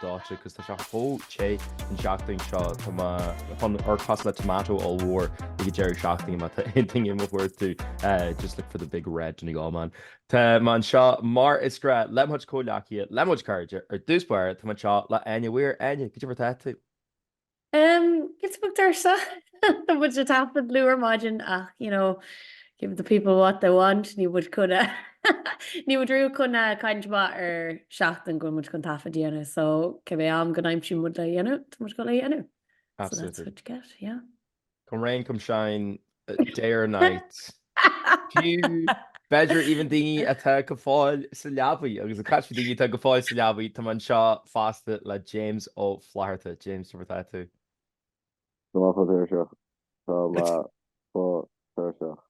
D'áitigh, agus tá sé chomh te an seachtain seo, tá mé chun amharc cosúil le tomato ollmhór ag an deireadh seachtaine má tá aon duine do mo chuartú, just look for the big red Donegal man. Tá mé anseo mar is gnáth le mo chuid comhghleacaithe, le mo chuid cairde, ar dtús báire tá mé anseo le Áine Weir. Áine, cad é mar atá tú? Em, giota beag tuirseach. Tá muid ag taifead luath ar maidin ach, you know, give the people what they want, níl muid chun a níl muid riamh chun a cailliúint amach ar seachtain go bhfuil muid chun taifead a dhéanamh so cibé am go n-aimsíonn muid le dhéanamh, tá muid ag gabháil a dhéanamh. So that's Absolutely. what you get, yeah. Come rain come shine day or night fiú b'fhéidir even daoine atá go fóill sa leabaidh agus ag caint faoi daoine atá go fóill sa leabaidh tá mé anseo fosta le James Ó Flatharta. James cad é mar atá tú? Tá mé fós tuirseach. Tá mé fós tuirseach.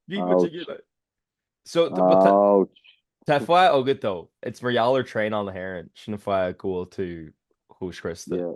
Bhí muid ag iarraidh so but tá Ouch! tá fáth agat dó. It's mar gheall ar traenacha na hÉireann sin an fáth go bhfuil tú chomh scriosta. Yeah.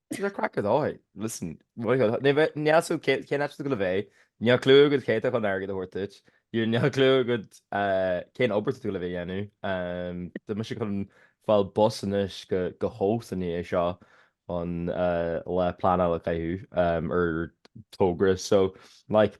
It's a cracker though. Listen, níl a fhios agad cén áit a bhfuil tú ag gabháil a bheith, níl clue agad cé atá chun airgead a thabhairt duit, níl níl clue agad cén obair atá tú ag gabháil a bheith a dhéanamh. Tá mise chun fáil bus anois go go Howth i ndiaidh seo chun lá pleanála a caitheamh ar togra so like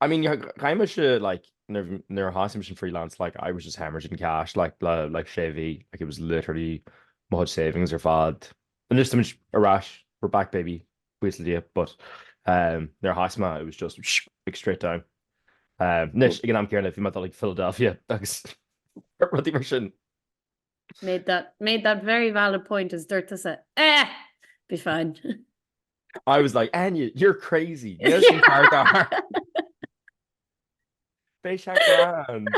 I mean chaith mise like nuair a thosaigh mise an freelance like I was just hemorrhaging cash like le like sé mhí like it was literally mo chuid savings ar fad. Anois tá muid ar ais, we're back baby, buíochas le Dia but ehm nuair a thosaigh mé it was just shh like straight down. Ehm anois ag an am céanna bhí mé ag dul like Philadelphia agus rudaí mar sin. Made that made that very valid point is dúirt tusa Eh! Be fine. I was like, Áine, you're crazy! Níl sin fíor dár Beidh sé grand!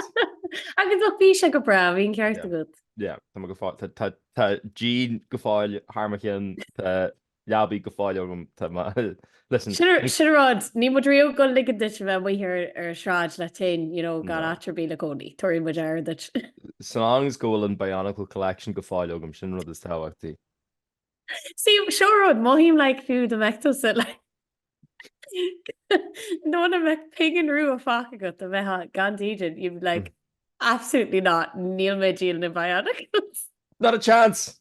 Agus ó bhí sé go breá, bhí an ceart agat. Yeah, tá mé go fóill. Tá díon go fóill thar mo chionn. Tá leabaidh go fóill agam, listen. Sin an rud, níl muid riamh ag gabháil a ligean duit a bheith amuigh ar an sráid leat féin, you know, gan áit ar bith le cónaí, tabharfaidh muid aire duit. So long as go bhfuil an Bionicle Collection go fóill agam, sin an rud is tábhachtaí. See, seo an rud, mothaím like fiú dá mbeadh tusa like muna mbeadh pingin rua fágtha agat dá mbeifeá gan dídean, you'd be like, absolutely not, níl mé ag díol na Bionicles. Not a chance!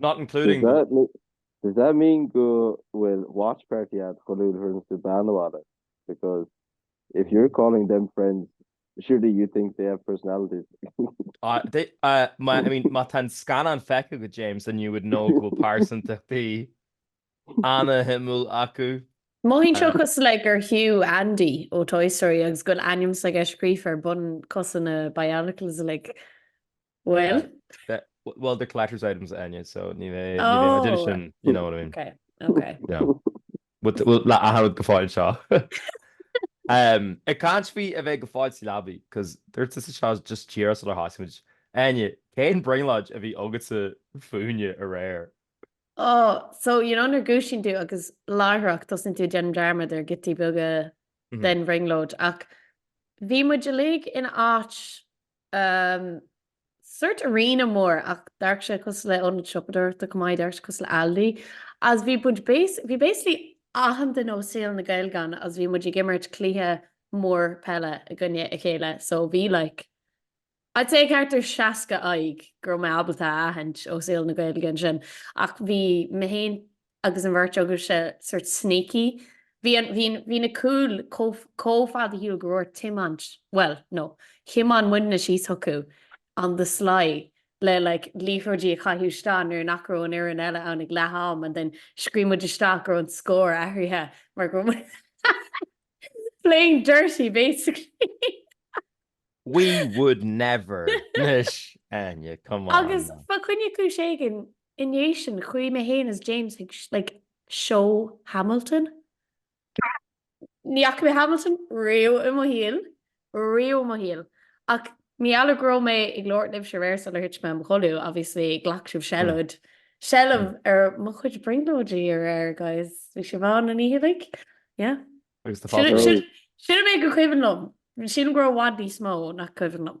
Not including. Does that mean go bhfuil Watch Party ad chuile uair a thugann tú bean abhaile because if you're calling them friends surely you think they have personalities. I mean má tá an scannán feicthe agat James then you would know go bhfuil pearsantachtaí ana-shuimiúil acu. Mothaím seo cosúil le gur thú Andy ó Toy Story agus go bhfuil ainm s'agat scríofa ar bun cosa na bionicles like Bhuel. Well they're collector's items Áine so ní bheidh limited edition you know what I mean. Ok ok. Yeah. Bhuel le athar rud go fóill anseo. Ag caint faoi a bheith go fóill sa leabaidh cos dúirt tusa seo just díreach sular thosaigh muid. Áine, cén brionglóid a bhí agatsa fúinne aréir? Oh so you know nuair a dhúisíonn tú agus láithreach tosaíonn tú ag déanamh dearmad ar giotaí beaga den bhrionglóid ach bhí muid uilig in áit Ahm, sórt arena mór ach d'amharc sé cosúil le ionad siopadóireachta chomh maith, d'amharc sé cosúil le Aldi agus bhí muid bas, bhí basically achan duine ó saol na Gaeilge ann agus bhí muid ag imirt cluiche mór peile i gcoinne a chéile so bhí like, I'd say thart ar 60 aghaidh go raibh mé ábalta a aithint ó saol na Gaeilge ansin ach bhí mé fhéin, agus an bheirt agaibhse sort sneaky, bhí an, bhí, bhí na cúil chomh, chomh fada ar shiúl go raibh ort tiomáint, bhuel, no, thiomáin muidne síos chucu on the sly le like liathróidí a chaitheamh isteach nuair nach raibh an fhoireann eile ann ag leath am and then scríobh muid isteach go raibh an scór athraithe mar go raibh muid playing dirty basically. We would never! Anois, Áine, come on! Agus fá choinne cúis éigin I ndiaidh sin, chuaigh mé féin is James chuig, like, seó Hamilton. Ní fhaca mé Hamilton riamh i mo shaol, riamh i mo shaol. Ach mar gheall go raibh mé ag labhairt libhse aréir sular thit mé i mo chodladh, obviously, ghlac sibh seilid, seilbh ar mo chuid brionglóidí aréir, guys. Bhí sibh ann an oíche uilig. Yeah. Agus do fada. Sin an méid gur cuimhin liom. Sílim go raibh i bhfad níos mó nach cuimhin liom.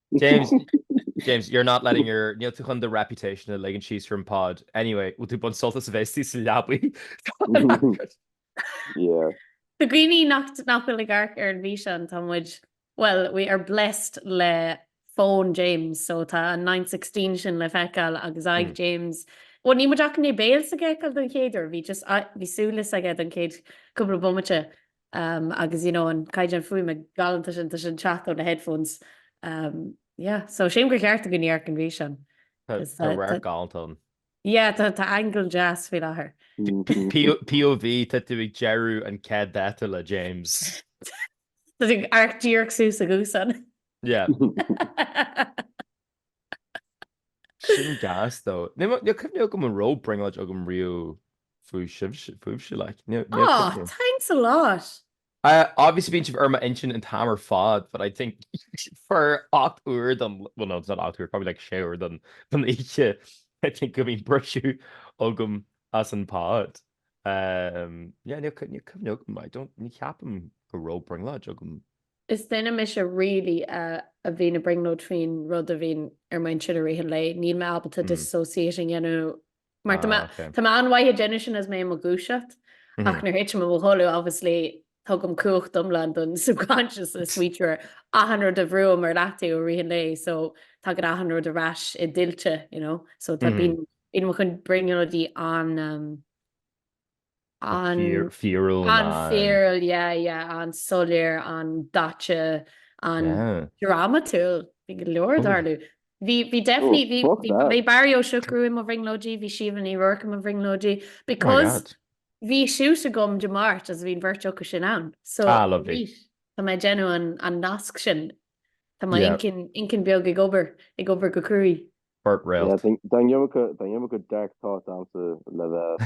James, James, you're not letting your, níl tú chun do reputation a ligean síos ar an pod. Anyway, bhfuil tú ag baint sult as a bheith sa leabaidh? Yeah. Do dhaoine nach nach bhfuil ag amharc ar an bhfíseán, tá muid, well, we are blessed le fón James, so tá an 9:16 sin le feiceáil agus aghaidh Mm. James. Well, níl muid ach i ndiaidh béal s'aige a fheiceáil don chéad uair, bhí just, a- bhí súile s'aige don chéad cúpla bomaite. Um agus you know an caighdeán fuaime galánta sin tá sin ag teacht ó na headphones um yeah so sílim gur cheart do dhaoine amharc ar an bhfíseán. Tá Is, tá uh, radharc tá- galánta ann. Yeah tá tá angle deas faoi láthair. P- POV tá tú ag deireadh an chéad dáta le James. Tá tú ag amharc díreach suas a ghaosán. Yeah. Sin gas though. Níl cuimhne agam an raibh brionglóid agam riamh faoi sibhse, fúibhse like. Níl, níl Aw, cuimhne. thanks a lot! Uh, obviously bíonn sibh ar m'intinn an t-am ar fad but I think for ocht uair den, well no, it's not ocht uair, probably like sé uair den, den oíche I think go mbíonn briseadh agam as an bpod. Um, yeah, níl, níl cuimhne agam, I don't, ní cheapaim go raibh brionglóid agam. Is duine mise really a bhíonn ag brionglóid faoin rud a bhíonn ar m'intinn i rith an lae. Níl mé ábalta disassociate a dhéanamh mar tá mé tá mé an-mhaith ag déanamh sin is mé i mo dhúiseacht ach nuair thitim i mo chodladh obviously tugaim cumhacht iomlán don subconscious smaoitiú ar achan rud a bhrúghaim ar leataobh i rith an lae so tagann achan rud ar ais i dtuilte you know so tá bíonn bíonn mo chuid brionglóidí an-. an-fhíorúil, an-fhíorúil, yeah, yeah, an-soiléir, an-daite, an-dramatúil, bhí go leor ag tarlú. Bhí, bhí definitely, bhí, bhí Barry Ó Siochrú i mo bhrionglóidí, bhí Síomha Ní Ruairc i mo bhrionglóidí because bhí shoot agam Dé Máirt agus bhí an bheirt acu sin ann so tá mé ag déanamh an, an nasc sin, tá m'inchinn beag ag obair, ag obair go cruaidh. Beirt réalt. Yeah, tá an iomarca dark thoughts agamsa le bheith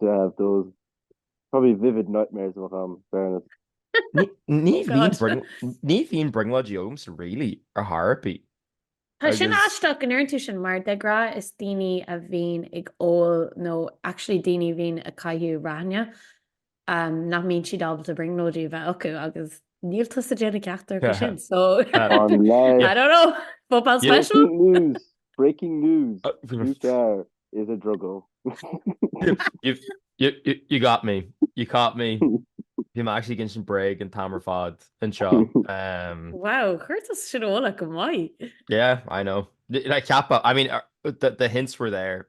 to have those probably vivid nightmares a bheadh ann, fairness. Ní bhíonn brionglóidí agamsa really, ar chor ar bith. Tá sin aisteach go ndeireann tú sin mar de ghnáth is daoine a bhíonn ag ól nó actually daoine a bhíonn ag caitheamh raithní nach mbíonn siad ábalta brionglóidí a bheith acu agus níl tusa ag déanamh ceachtar acu sin so I don't know, football special? Breaking news, breaking news, Hugh Carr is a druggo. You got me, you caught me. Bhí mé actually ag insint bréag an t-am ar fad anseo. Wow, chuir tú sin i bhfolach go maith. Yeah, I know. Like ceapadh, I mean the hints were there,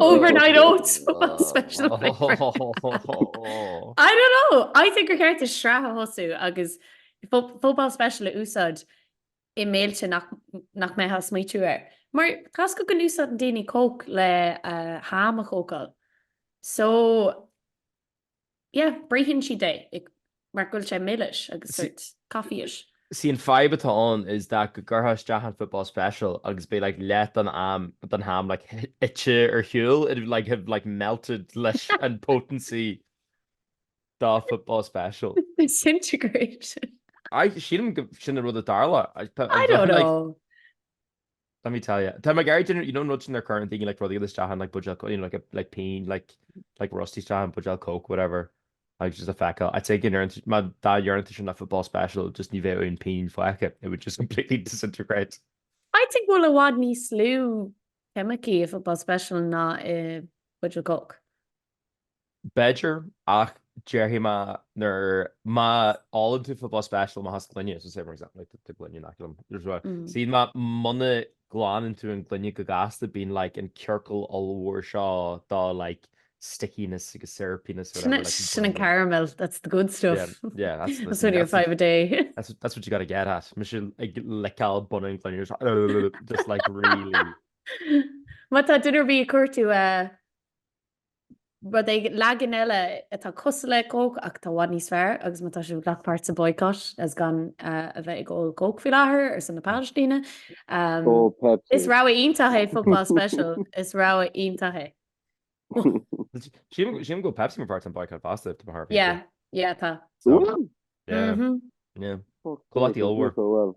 Overnight oats special I don't know I think gur cheart duit sraith a thosú agus football special a úsáid i mbéilte nach mbeifeá ag smaoitiú air mar tá a fhios agat go n-úsáideann daoine coke le ham a chócáil so Yeah, bruitheann siad é mar go bhfuil sé milis agus sort coffee-ish. See an fadhb atá ann is that go gcuirfeá isteach an football special agus beidh like leath den am den ham like ite ar shiúl it would like have like melted leis an potency dá football special. Disintegration. I, sílim go bhfuil sin an rud a tharla. I don't know. Let me tell you. Tá mé ag iarraidh déanamh, you know an rud sin a gcuireann daoine like rudaí fhada isteach in like buidéal cóic, you know like like pingin like like rusty isteach in buidéal cóic, whatever, agus just a fheiceáil, I think ar an, má dá dhearnadh tú sin i football special just ní bheadh aon pingin fágtha, it would just completely disintegrate. I think go bhfuil i bhfad níos lú ceimicí i football special ná i buidéal cóic. B'fhéidir, ach déarfaidh mé nuair má ólann tú football special amach as gloine, so say for example tá an gloine in aice liom, nuair a suíonn mé muna nglanann tú an gloine go gasta bíonn like an ciorcal ollmhór seo de like stickiness agus syrupiness whatever like Sin sin an caramel, that's the good stuff. Yeah, yeah, that's That's listen, one of your five a day. that's what, that's what you gotta get at. Mise ag liceáil bun an gloine just just like really Má tá duine ar bith ag cuartú rud éigin leagan eile atá cosúil le Coke ach tá i bhfad níos fearr agus má tá sibh ag glac páirt sa boycott as gan a bheith ag ól Coke faoi láthair ar son na Palaistíne. Is rogha iontach é Football Special. Is rogha iontach é. Sílim go bhfuil Pepsi mar pháirt den boycott fosta faoi láthair. Yeah, yeah tá. Comhlachtaí ollmhór.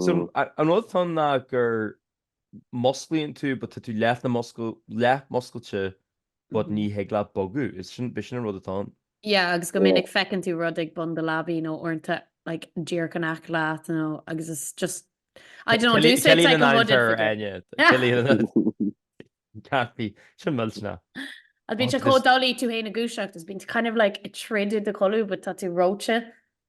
So, an rud atá ann ná gur musclaíonn tú but tá tú leath-mhuscailte but ní thig leat bogadh. Is sin, b'shin an rud atá ann. Yeah, agus go minic feiceann tú rud ag bun do leabaidh nó uaireanta like díreach in aice leat nó agus it's just, I don't know, they say it's like a hooded figure. Ciallaíonn an aimhir fhear, Áine. Ciallaíonn an cearcaí. Sin millteanach. Agus bíonn sé chomh doiligh tú fhéin a dhúiseacht, is bíonn kind of like ag troid i do chodladh but tá tú reoite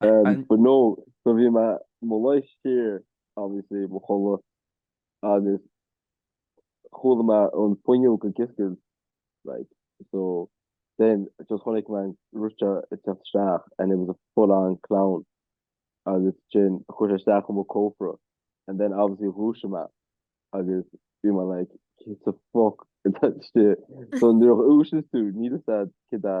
But no, so bhí mé i mo luí siar obviously mo chodladh agus chuala mé an fuinneog ag oscailt like so then just chonaic mé an rud seo ag teacht isteach and it was a full on clown agus ansin chuaigh sé isteach chun mo cófra and then obviously dhúisigh mé agus bhí mé like cé sa fuck atá istigh so nuair a dhúisigh tú níl a fhios agat cad é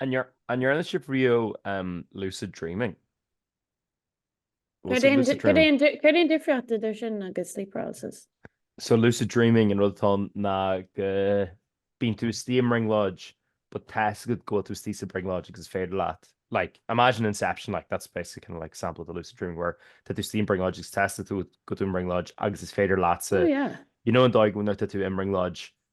An ndearna sibh riamh lucid dreaming? Cad é an difríocht idir sin agus sleep paralysis? So lucid dreaming an rud atá ann ná go bíonn tú istigh i mbrionglóid but tá's agat go bhfuil tú istigh sa bhrionglóid agus is féidir leat like, imagine Inception like, that's basically kinda like sampla de lucid dreaming where tá tú istigh i mbrionglóid agus tá's agat go bhfuil tú i mbrionglóid agus is féidir leatsa, you know an dóigh nuair atá tú i mbrionglóid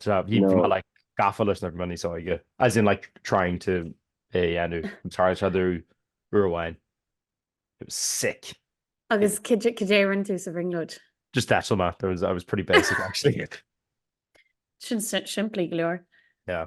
Yeah bhí mé like gafa leis nuair a bhí mé níos óige. As in like trying to é a dhéanamh. Tharla sé domh uair amháin. It was sick. Agus cad é a rinne tú sa bhrionglóid? Just d'eitil mé. There was, I was pretty basic actually. Sin simplí go leor. Yeah.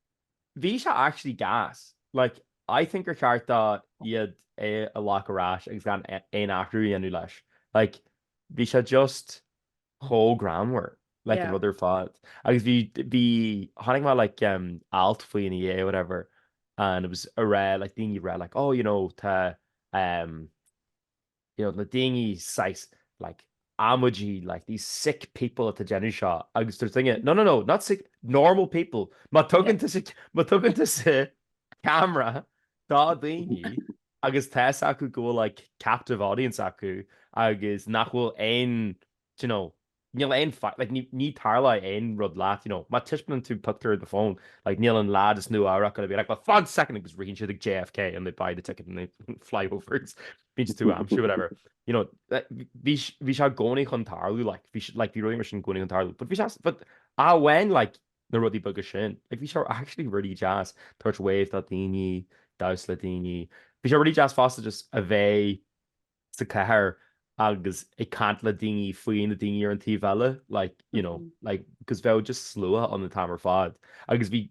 bhí sé actually gas. Like, I think gur cheart do iad é a ghlac ar ais agus gan aon athrú a dhéanamh leis. Like, bhí sé just chomh greannmhar, like an rud ar fad. Agus bhí, bhí, chonaic mé like em, alt faoi ina dhiaidh, whatever, and it was a' rá, like daoine a' rá like, oh you know, tá, em, you know, na daoine says like oh my God like these sick people atá ag déanamh seo agus dúirt duine no, no, no, not sick, normal people má tugann tú sa, má tugann tusa camera dá daoine agus tá's acu go bhfuil like captive audience acu agus nach bhfuil aon d'you know, níl aon faic, like, ní, ní tarlóidh aon rud leat, you know, má tispeánann tú pictiúr ar do fón, like, níl an lad as Nua-Eabhrac gonna be like, well fán soicind agus ritheann siad ag JFK and they buy the ticket and they fly over agus bíonn siad do d'aimsiú, whatever. You know, like, bhí, bhí sé i gcónaí chun tarlú, like, bhí, like, bhí rudaí mar sin i gcónaí chun tarlú, but bhí sé, but amháin, like, na rudaí beaga sin, like, bhí sé actually really deas tabhairt wave do dhaoine, damhsa le daoine, bhí sé really deas fosta just a bheith, sa chathair agus ag caint le daoine faoi na daoine ar an taobh eile like you know like because bheadh just slua ann an t-am ar fad agus bhí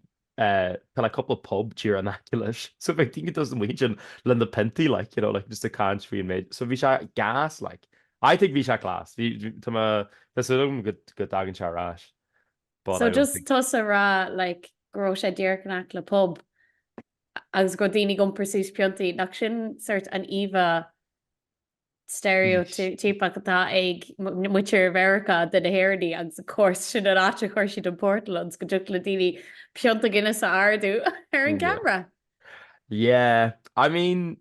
eh tá like cúpla pub thíos in aice leis so bheadh daoine just amuigh ansin le na piontaí like you know like just ag caint faoin méid so bhí sé gas like I think bhí sé class bhí bhí tá me tá súil agam go go dtagann sé ar ais but So I don't just think tusa ag rá like go raibh sé díreach in aice le pub agus go raibh daoine ag iompar suas piontaí, nach sin sort an íomhá steiréitíopeach atá ag muintir Mheiriceá de na hÉireannaigh agus of course sin an áit a chuir siad an portal ionas go dtiocfadh le daoine pionta Guinness a ardú ar an gcamara. Yeah, I mean,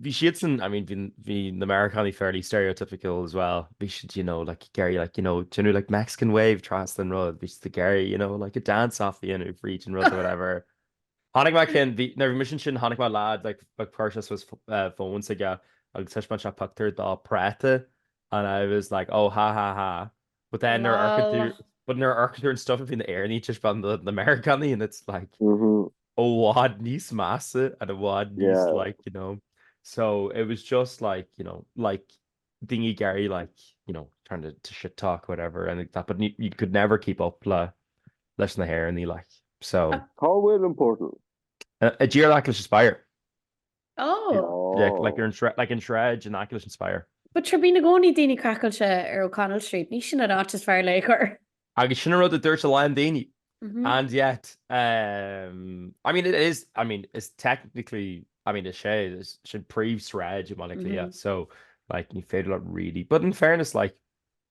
bhí siadsan, I mean, bhí, bhí na Meiriceánaigh fairly stereotypical as well, bhí siad you know like ag iarraidh like you know déanamh like Mexican wave trasna an rud, bhí siad ag iarraidh you know like a dance off a dhéanamh fríd an rud or whatever. Chonaic mé ceann, bhí, nuair a bhí mise ansin chonaic mé leaid like ag cur suas phone s'aige agus thaispeáin sé pictiúr dá práta and I was like oh ha ha ha. But then nuair a amharcann tú, Mhm. but nuair a amharcann tú ar an stuff a bhí na hÉireannaigh ag taispeáint do na Meiriceánaigh and it's like Mhm. i bhfad níos measa and i bhfad níos Yeah. like, you know. So it was just like, you know, like daoine ag iarraidh like, you know, trying to to shit talk whatever and like that but you you could never keep up le leis na hÉireannaigh like. So Cá bhfuil an portal? Tá díreach in aice leis an spire. Oh! Like ar an sráid, like an sráid in aice leis an Spire. But sure bíonn i gcónaí daoine craiceáilte ar O'Connell Street, ní sin an áit is fearr lena chur. Agus sin an rud a dúirt a lán daoine. And yet, I mean it is, I mean it's technically, I mean is sé, sin príomhshráid i mBaile Átha Cliath so like ní féidir leat really, but in fairness like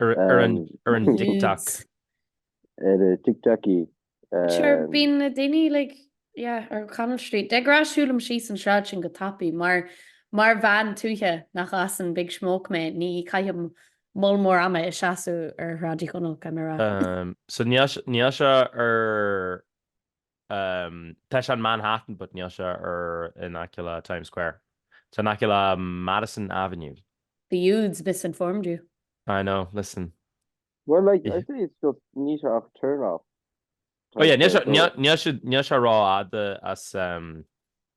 Ar an TikTok. Ar an TikTok í. Sure, bíonn na daoine like, yeah, ar O'Connell Street. De ghnáth siúlaim síos an sráid sin go tapaidh mar mar bhean tuaithe nach as an Big Smoke mé ní chaithim moll mór ama i mo sheasamh ar Shráid Uí Chonaill, caithfidh mé a rá. So níl sé ar Tá sé in Manhattan but níl sé ar in aice le Times Square. Tá in aice le Madison Avenue. The youths misinformed you. I know, listen. Well like, I'd say it's just, níl sé ach turn off. Oh yeah, níl sé rófhada as.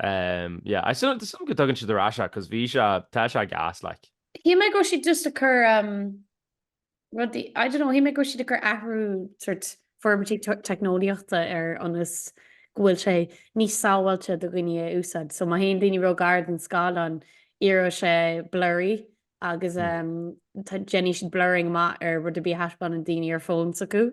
Umm yeah, tá súil agam go dtugann siad ar ais é, cos bhí sé, tá sé gas like. Shíl mé go raibh siad just ag cur umm rudaí, I don't know, shíl mé go raibh siad ag cur athrú sort forbairtí teicneolaíochta ar ionas go bhfuil sé níos sábháilte do dhaoine a úsáid. So má théann daoine róghar don scáileán éireoidh sé blurry agus umm déanfaidh siad blurring amach ar rud ar bith a thaispeánann daoine ar phones acu.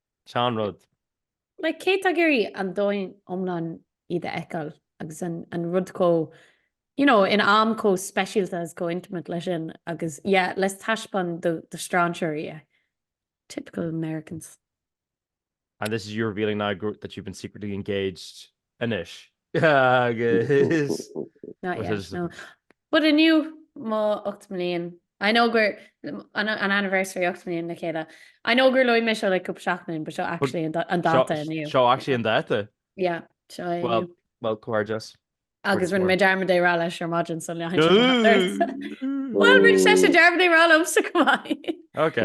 Sin an rud. Like, cé tá ag iarraidh an domhain iomlán iad a fheiceáil agus an, an rud chomh, you know, in am chomh speisialta agus chomh intimate leis sin agus, yeah, let's taispeáin do, do strainséirí é. Typical Americans. And this is you revealing now that you've been secretly engaged Anois. Agus. Not yet, no. But inniu, mo ocht mbliain, I know gur, an anniversary ocht mbliain le chéile. I know gur luaigh mé seo le cúpla seachtain but seo actually an dáta inniu. Seo actually an dáta? Yeah, seo é inniu. Well, comhghairdeas. Agus rinne mé dearmad é a rá leis ar maidin so leanfaidh sé amach air. Bhuel, rinne seisean dearmad é a rá liomsa chomh maith. Ok.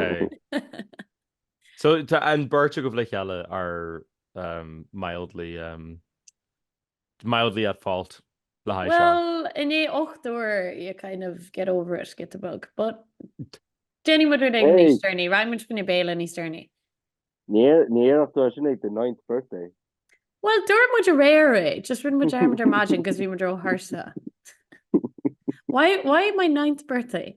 So tá an bheirt agaibh le chéile ar um, mildly, um, mildly at fault le haghaidh seo. Well, i ndiaidh ocht uair, you kind of get over it, get the bug. But déanfaidh muid rud éigin níos deireanaí, rachaidh muid fá choinne béile níos deireanaí. Níor, níor dhúirt tú sin ag do ninth birthday. Well, dúirt muid aréir é, just rinne muid dearmad ar maidin cos bhí muid róthuirseach. Why, why my ninth birthday?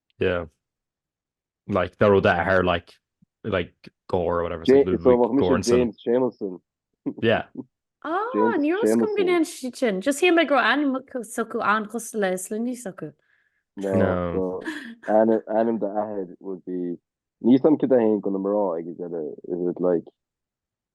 Yeah. Like dá raibh d'athair like like Gore or whatever. Dé- Ludwig so bheadh mise Göransson. James Jameson. Yeah. Ah, James níl a fhios agam go Jameson. ndéanfaidh siad sin. Just shíl mé go raibh ainm s'acu an-chosúil le sloinní s'acu. No, No. so ainm, ainm d'athair would be... Níl a fhios agam cad é a théann do na mná ag an deireadh. Is it like...